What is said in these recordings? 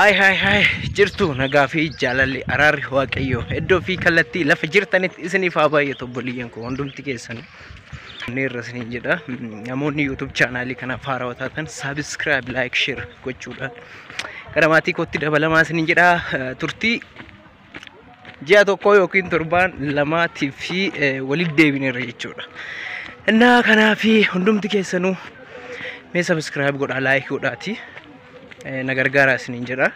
Haay haay haay jirtu nagaa fi jaalalli araarri waaqayyoo iddoo fi kallattii lafa jirtanitti isiniif haa baay'atu obboleeyyan koo hundumti keessan neerra isiniin jedha namoonni yuutuub chaanaalii kanaaf haarawaa taatan saabiskiraayib laayik sheer gochuudhaan gara maatii kootti dabalamaa isiniin jedha turtii ji'a tokkoo yookiin torbaan lamaatiif fi walitti deebineerra jechuudha. Innaa kanaa fi hundumti keessanuu mee sabiskiraayib godhaa laayik godhaati na gargaaraa isiniin jedha.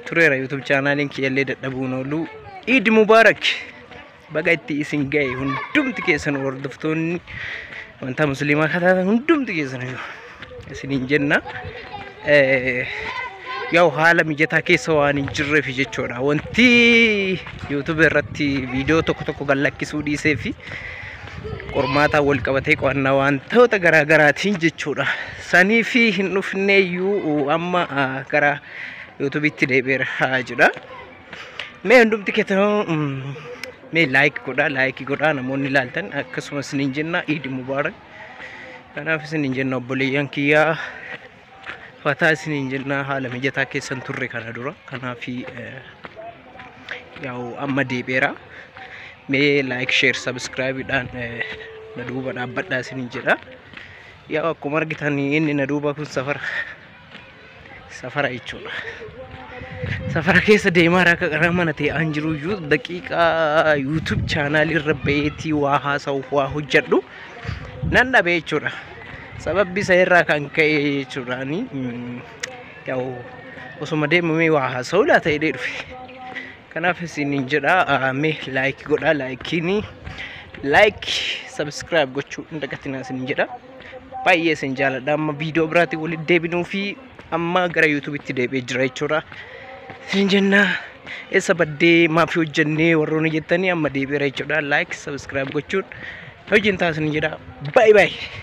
Tureera yuutuub chaanaaliin kiyyallee dadhabuun ooluu. Iid Mubaarak! baga itti isin ga'e hundumti keessan hordoftoonni wantaa musliimaa kataatan hundumti keessan isiniin jenna. Yaa'u haala mijataa keessa waan hin jirreef jechuudha. Wanti YouTube irratti viidiyoo tokko tokko gad lakkisuu dhiisee fi qormaataan wal qabatee qo'annaa wantoota garaa garaatiin jechuudha. Sanii fi hin dhufneeyyuu amma gara YouTubetti deebi'eera jedha. Mee hundumti keessanuu mm, mee laayik godhaa laayikii godhaa namoonni ilaaltan akkasumas isiniin jenna iidi mubaarak kanaaf isiniin jenna obboleeyyan kiyyaa fataa isiniin jenna haala mijataa keessan turre kana dura kanaaf eh, yaa'u amma deebi'eera mee laayik sheer sabiskiraayibiidhaan eh, na duuba dhaabbadhaa isiniin jedha yaa'u akkuma argitan inni na duuba kun safara safara jechuudha. Safara keessa deemaa akka qaraa mana ta'e an jiru iyyuu daqiiqaa YouTube chaanaalii irra ba'eetii waa haasa'uuf waa hojjedhu nan dhabe jechuudha. Sababbi isa irraa kan ka'e jechuudha ani mm, yaa'u osuma deemamee waa haasa'u laata jedhee dhufe. Kanaaf isiniin jedha ah, mee laayikii godhaa laayikiinii laayikii sabiskiraayib gochuu hin dagatinaa isiniin jedha. baay'ee isin jaaladha amma viidiyoo biraatti walitti deebinuu fi amma gara yuutuubitti deebi'ee jira jechuudha isin jenna eessa baddee maaf hojjennee warroonni jettanii amma deebi'eera jechuudha laayik sabiskiraayib gochuun hojiin taasisan jedha baay'ee baay'ee.